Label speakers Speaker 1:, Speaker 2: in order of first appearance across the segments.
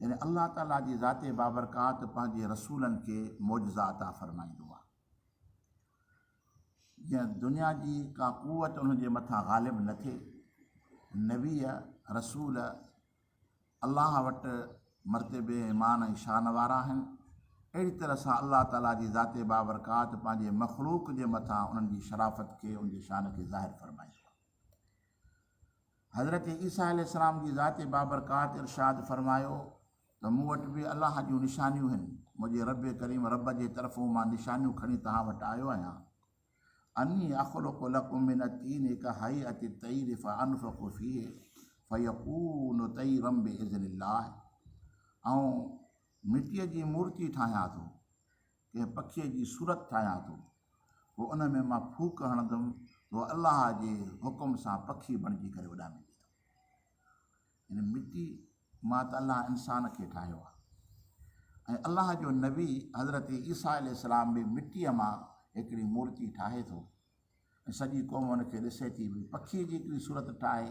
Speaker 1: يعني الله تعاليٰ جي ذات بابرڪات پنهنجي رسولن کي معجزا عطا فرمائيندو آهي جيئن دنيا جي ڪا قوت انهن جي مٿان غالب نه ٿئي نبي رسول الله وٽ مرتبي مان ۽ شان وارا آهن اهڙي طرح سان الله تعاليٰ جي ذات بابرڪات پنهنجي مخلوق جي مٿان انهن جي شرافت کي ان جي شان کي ظاهر فرمائيندو حضرت عيسيٰ عليه السلام جي ذات بابرڪات ارشاد فرمايو ته مون وٽ به الله جون نشانيون هن، منهنجي ربّ ڪريم ربّ جي طرفون مان نشانيون کڻي توهان وٽ آيو آهيان، اني اخلق لڪم من الطين ڪهيئة الطير فانفخ فيه فيڪون طيرا باذن الله، آئون مٽيء جي مورتي ٺاهيان ٿو. ڪنهن پکيء جي صورت ٺاهيان ٿو پوء ان ۾ مان ڦوڪ هڻندم پوء الله جي حڪم سان پکي بڻجي ڪري اڏامي ويندو. يعني مٽي مان ته الله انسان کي ٺاهيو آهي ۽ الله جو نبي حضرت عيسيٰ عليه السلام به مٽيء مان هڪڙي مورتي ٺاهي ٿو ۽ سڄي قوم ان کي ڏسي ٿي ڀئي پکيء جي هڪڙي صورت ٺاهي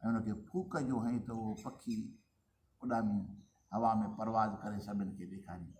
Speaker 1: ۽ ان کي ڦوڪ جو هئين ته اهو پکي اڏامي هوا ۾ پرواز ڪري سڀن کي ڏيکاريندو.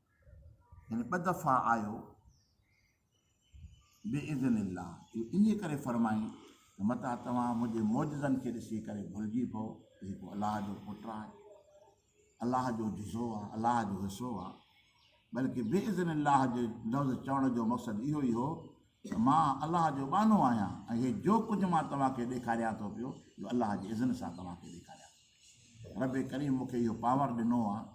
Speaker 1: يعني ٻه دفعا آيو باذن الله اهو انهيء ڪري فرمائين ته متان توهان منهنجي معجزن کي ڏسي ڪري ڀلجي پئو ته هي ڪو الله جو پٽ آهي الله جو جزو آهي الله جو حصو آهي بلڪه باذن الله جو لفظ چوڻ جو مقصد اهو ئي هو ته مان الله جو ٻانو آهيان ۽ هي جو ڪجهه مان توهانکي ڏيکاريان ٿو پيو اهو الله جي اذن سان توهانکي ڏيکاريان ٿو رب ڪريم مونکي اهو پاور ڏنو آهي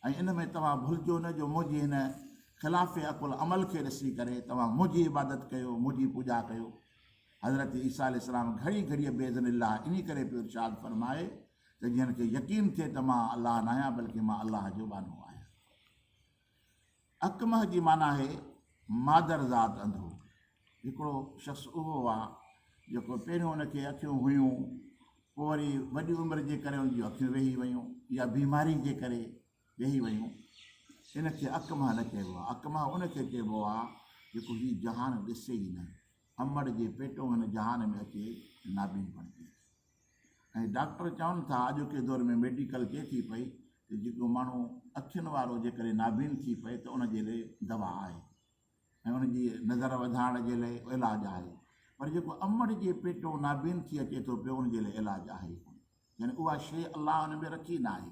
Speaker 1: ۽ ان ۾ توهان ڀلجو نه جو منهنجي هن خلاف عقل عمل کي ڏسي ڪري توهان منهنجي عبادت ڪيو، منهنجي پوڄا ڪيو. حضرت عيسيٰ عليه السلام گهڙي گهڙيء بإذن الله انهي ڪري پيو ارشاد فرمائي ته جنھن کي يقين ٿئي ته مان الله ناهيان بلڪه مان الله جو ٻانهو آهيان. اڪمه جي معنيٰ آهي مادر ذات انڌو. هڪڙو شخص اهو هو جيڪو پهريون ان کي اکيون هيون پوء وري وڏي عمر جي ڪري ان جون اکيون ويهي ويون يا بيماري جي ڪري ويهي ويون ان کي اڪمه نه چئبو آهي اڪمه ان کي چئبو آهي جيڪو هي جهان ڏسي ئي نه امڙ جي پيٽون هن جهان ۾ اچي نابين بڻجي ۽ ڊاڪٽر چون ٿا اڄوڪي دور ۾ ميڊيڪل چئي ٿي پئي ته جيڪو ماڻهو اکين وارو جيڪڏهن نابين ٿي پئي ته ان جي لئي دوا آهي ۽ ان جي نظر وڌائڻ جي لئي علاج آهي پر جيڪو امڙ جي پيٽو نابين ٿي اچي ٿو پيو ان جي لئي علاج آهي ڪونه يعني اها شيء الله ان ۾ رکي ناهي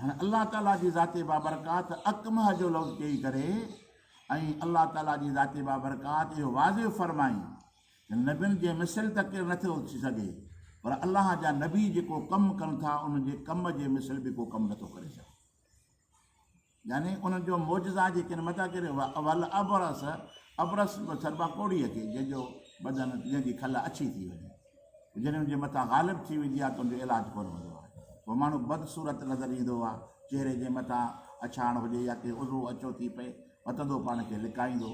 Speaker 1: هن الله تعاليٰ جي ذات بابرڪات اڪمه جو لفظ چئي ڪري ۽ الله تعاليٰ جي ذات بابرڪات اهو واضح فرمائي ته نبين جي مثل ته ڪير نٿو ٿي سگهي پر الله جا نبي جيڪو ڪم ڪن ٿا ان جي ڪم جي مثل به ڪو ڪم نٿو ڪري سگهي يعني انهن جو معجزا جي ڪن مدح ڪري هئا والابرص ابرص سربا ڪوڙيء کي جنهن جو بدن جنهن جي کل اڇي ٿي وڃي جڏهن ان جي مٿان غالب ٿي ويندي آهي ته ان جو علاج ڪونه هوندو آهي پوء ماڻهو بدصورت نظر ايندو آهي چهري جي مٿان اڇاڻ هجي يا ڪي عضوو اڇو ٿي پئي وتندو پاڻ کي لڪائيندو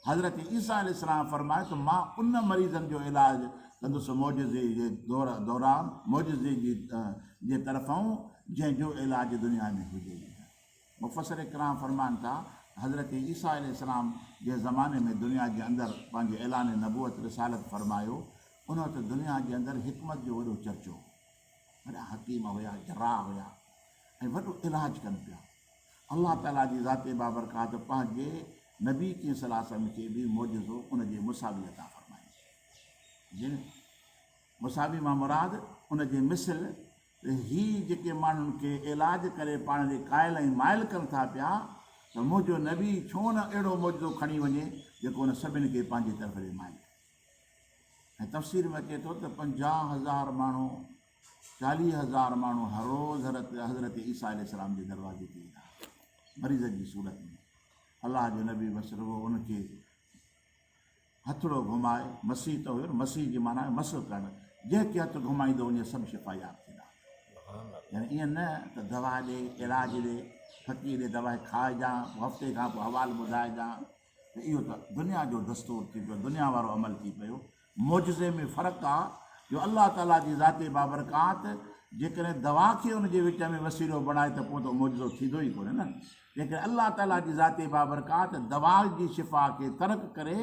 Speaker 1: حضرت عيسيٰ عليه السلام فرمايو ته مان ان مريضن جو علاج ڪندس معجزي جي دوران معجزي جي طرفئون جنهن جو علاج دنيا ۾ هجي ئي نه. مفسر ڪرام فرمائن ٿا حضرت عيسيٰ عليه السلام جنهن زماني ۾ دنيا جي اندر پنهنجي اعلان نبوت، رسالت، فرمايو ان وقت دنيا جي اندر حڪمت جو وڏو چرچو هو. وڏا حڪيم هيا، جراح هيا ۽ وڏو علاج ڪن پيا. الله تعالي جي ذات بابرڪات پنهنجي نبي ڪريم صلي الله عليه وسلم کي به معجزو ان جي مساوي عطا فرمائي. جن مساوي مان مراد ان جي مثل ته هي جيڪي ماڻهن کي علاج ڪري پاڻ ڏي قائل ۽ مائل ڪن ٿا پيا ته منهنجو نبي ڇو نه اهڙو معجزو کڻي وڃي جيڪو ان سڀني کي پنهنجي طرف ڏي مائل ڪري. ۽ تفسير ۾ اچي ٿو ته پنجاهه هزار ماڻهو چاليهه هزار ماڻهو هر روز حضرت حضرت عيسيٰ عليه السلام جي دروازي تي ايندا هئا مريضن جي صورت ۾ الله جو نبي بس رڳو ان کي هٿڙو گهمائي مسيح ته هيو مسيح جي معنيٰ مس ڪرڻ جنهن کي هٿ گهمائيندو وڃي سڀ شفا ياب ٿيندا يعني ائين نه ته دوا ڏي علاج ڏي فقير ڏي دوا کائجان هفتي کان پوء حوال ٻڌائجان ته اهو ته دنيا جو دستور ٿي پيو، دنيا وارو عمل ٿي پيو. معجزي ۾ فرق آ جو الله تعاليٰ جي ذات بابرڪات جيڪڏهن دوا کي ان جي وچ ۾ وسيلو بڻائي ته پوء ته اهو معجزو ٿيندو ئي ڪونهي نه. جيڪڏهن الله تعاليٰ جي ذات بابرڪات دوا جي شفا کي ترڪ ڪري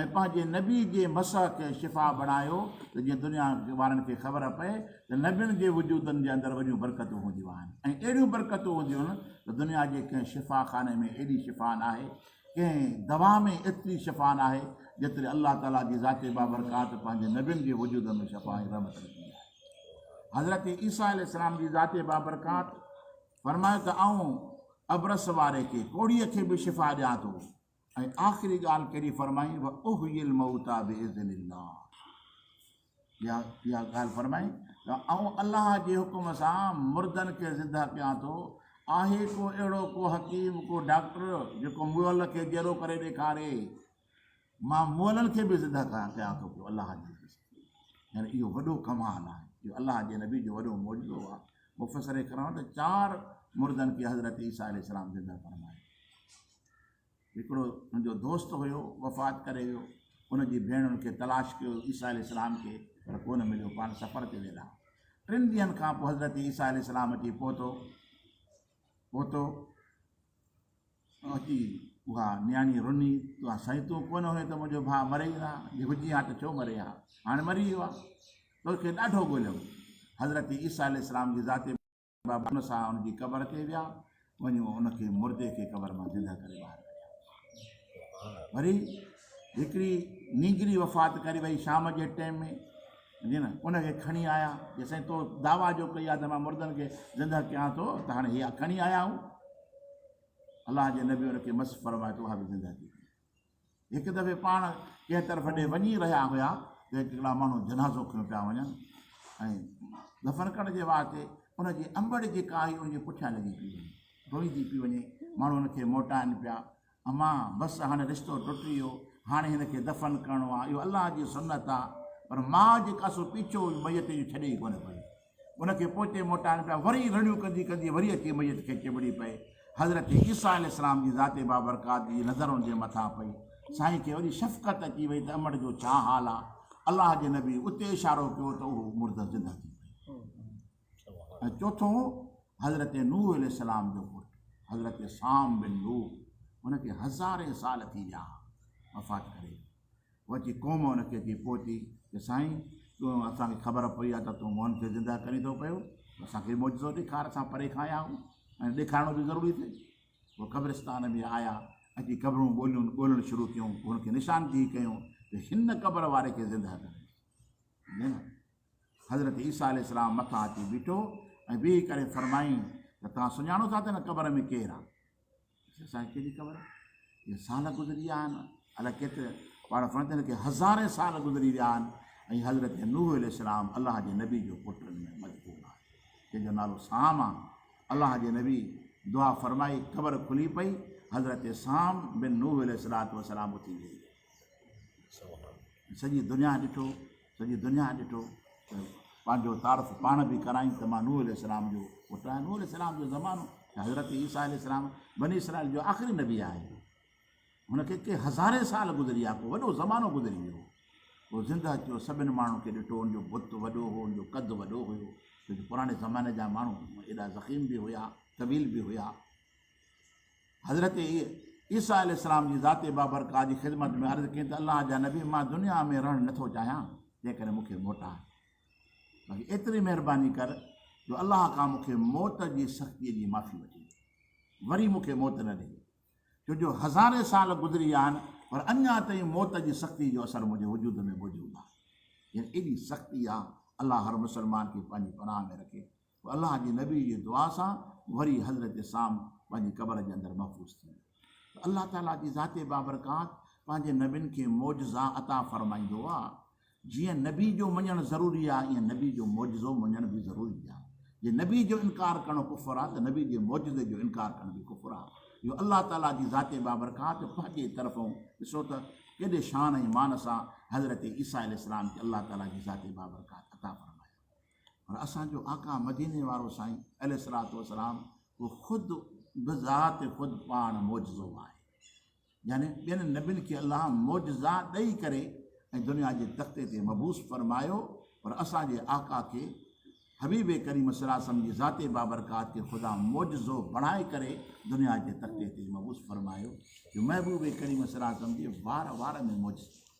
Speaker 1: ۽ پنهنجي نبي جي مسح کي شفا بڻايو ته جيئن دنيا وارن کي خبر پئي ته نبين جي وجودن جي اندر وڏيون برڪتون هونديون آهن ۽ اهڙيون برڪتون هونديون ته دنيا جي ڪنهن شفا خاني ۾ ايڏي شفا ناهي، ڪنهن دوا ۾ ايتري شفا ناهي جيتري الله تعالي جي ذات بابرڪات پنهنجي نبين جي وجود ۾ شفا ۽ رحمت رکي آهي. حضرت عيسيٰ عليه السلام جي ذات بابرڪات فرمايو ته آئون ابرص واري کي، ڪوڙهيء کي به شفا ڏيان ٿو. ۽ آخري ڳالهه ڪهڙي فرمائي واحيي الموتي باذن الله يا يا ڳالهه فرمائي ته آئون الله جي حڪم سان مردن کي زنده ڪيان ٿو آهي ڪو اهڙو ڪو حڪيم ڪو ڊاڪٽر جيڪو مئل کي جيرو ڪري ڏيکاري مان مئلن کي به زنده ڪيان ٿو پيو الله جي يعني اهو وڏو ڪمال آهي اهو الله جي نبي جو وڏو معجزو آهي مفسر ڪرڻ ته چار مردن کي حضرت عيسيٰ عليه السلام زنده فرمائي هڪڙو هن جو دوست هيو، وفات ڪري ويو. هن جي ڀيڻ هن کي تلاش ڪيو، عيسيٰ عليه السلام کي، پر ڪو نه مليو. پاڻ سفر تي ويل ها. ٽن ڏينهن کان پوء حضرت عيسيٰ عليه السلام اچي پهتو. پهتو اچي اها نياڻي رني، تون سائين تون ڪونه هئين ته منهنجو ڀاء مري ئي نه ها، جي هجي ها ته ڇو مري ها، هاڻي مري ويو ها. تو کي ڏاڍو ڳوليم. حضرت عيسيٰ عليه السلام جي ذات. بابا ان سان ان جي قبر تي ويا، وڃي ان کي مردي کي قبر مان زندهه ڪري ٻاهر ڪڍيا. وري هڪڙي نينگري وفات ڪري وئي شام جي ٽيم ۾ جي نه ان کي کڻي آيا جي سائين تو دعوا جو ڪئي آ ته مان مردن کي زندهه ڪيان ٿو ته هاڻي هي کڻي آيا آهون الله جي نبي ان کي مس فرمايو ته اها به زندهه ٿي هڪ دفعي پاڻ ڪنهن طرف ڏي وڃي رهيا هيا ته هڪڙا ماڻهو جنازو کنيو پيا وڃن ۽ دفن ڪرڻ جي واسطي ان جي انبڙ جيڪا آهي ان جي پٺيان لڳي پي وڃي ڊوئي ٿي پي وڃي ماڻهو ان کي موٽائن پيا امان بس هاڻي رشتو ٽٽي ويو هاڻي هن کي دفن ڪرڻو آهي اهو الله جي سنت آهي پر ماء جيڪا سو پيڇو ميت جو ڇڏي ئي ڪونه پئي ان کي پوئتي موٽائڻ پيا وري رڙيون ڪندي ڪندي وري اچي ميت کي چنبڙي پئي حضرت عيسيٰ عليه السلام جي ذات بابرڪات جي نظر ان جي مٿان پئي سائين کي وري شفقت اچي وئي ته امڙ جو ڇا حال آ الله جي نبي اتي اشارو ڪيو ته اهو مردس زنده ٿي ۽ چوٿون حضرت نوح عليه السلام جو پٽ حضرت سام بن نوح ان کي هزارين سال ٿي ويا وفات ڪري وچي قوم ان کي اچي پهتي ته سائين تون اسان کي خبر پئي آهي ته تون مئن کي زنده ڪرين ٿو پيو ته اسان کي معجزو ڏيکار اسان پري کان آيا آهيون ۽ ڏيکارڻو به ضروري ٿئي پوء قبرستان ۾ آيا اچي قبرون ڳوليون ڳولڻ شروع ڪيون پوء ان کي نشاندهي ڪيون ته هن قبر واري کي زنده ڪري نه نه حضرت عيسيٰ عليه السلام مٿان اچي بيٺو ۽ بيهي ڪري فرمائين ته توهان سڃاڻو ٿا ته هن قبر ۾ ڪير آهي اسان کي ڪهڙي خبر جو سال گذري ويا آهن الاء ڪيتري پاڻ فرشتن کي هزارين سال گذري ويا آهن ۽ حضرت نوح عليه السلام الله جي نبي جو پٽ ان ۾ مذڪور آهي جنهن جو نالو سام آهي الله جي نبي دعا فرمائي قبر کلي پئي حضرت سام بن نوح عليه السلام اٿي ويئي سڄي دنيا ڏٺو سڄي دنيا ڏٺو ته پنهنجو تعارف پاڻ به ڪرايائين ته مان نوح عليه السلام جو پٽ آهيان نوح عليه السلام جو زمانو ته حضرت عيسيٰ عليه السلام بني اسرائيل جو آخري نبي آهي هن کي ڪي هزارين سال گذري ويا ڪو وڏو زمانو گذري ويو هو زندهه اچيو سڀني ماڻهن کي ڏٺو ان جو بت وڏو هو ان جو قد وڏو هيو ڇو جو پراڻي زماني جا ماڻهو ايڏا ذخيم به هيا طويل به هيا حضرت عيسيٰ عليه السلام جي ذات بابرڪات جي خدمت ۾ عرض ڪئي ته الله جا نبي مان دنيا ۾ رهڻ نه ٿو چاهيان تنهن ڪري مون کي موٽاء باقي ايتري مهرباني ڪر جو الله کان مون کي موت جي سختي جي معافي وٺي وري مون کي موت نه ڏي ڇو جو هزارين سال گذري ويا آهن پر اڃا تائين موت جي سختي جو اثر منهنجي وجود ۾ موجود آهي يعني ايڏي سختي آهي الله هر مسلمان کي پنهنجي پناهه ۾ رکي الله جي نبي جي دعا سان وري حضرت سام پنهنجي قبر جي اندر محفوظ ٿي ويو. ته الله تعاليٰ جي ذات بابرڪات پنهنجي نبين کي معجزا عطا فرمائيندو آ. جيئن نبي جو مڃڻ ضروري آ ايئن نبي جو معجزو مڃڻ به ضروري آ. جي نبي جو انڪار ڪرڻو ڪفر آ ته نبي جي معجزي جو انڪار ڪرڻ به ڪفر آ. اهو الله تعاليٰ جي ذات بابرڪات پنهنجي طرفون ڏسو ته ڪيڏي شان ۽ مان سان حضرت عيسيٰ عليه السلام کي الله تعاليٰ جي ذات بابرڪات عطا فرمايو. پر اسان جو آقا مديني وارو سائين عليه الصلوة والسلام اهو خود بذات خود پاڻ معجزو آهي يعني ٻين نبين کي الله معجزا ڏئي ڪري ۽ دنيا جي تختي تي مبوس فرمايو پر اسان جي آقا کي حبيب ڪريم صلي وسلم جي ذات بابرڪات کي خدا معجزو بڻائي ڪري دنيا جي تختي تي مبوس فرمايو جو محبوب ڪريم صلي وسلم جي وار وار ۾ معجزو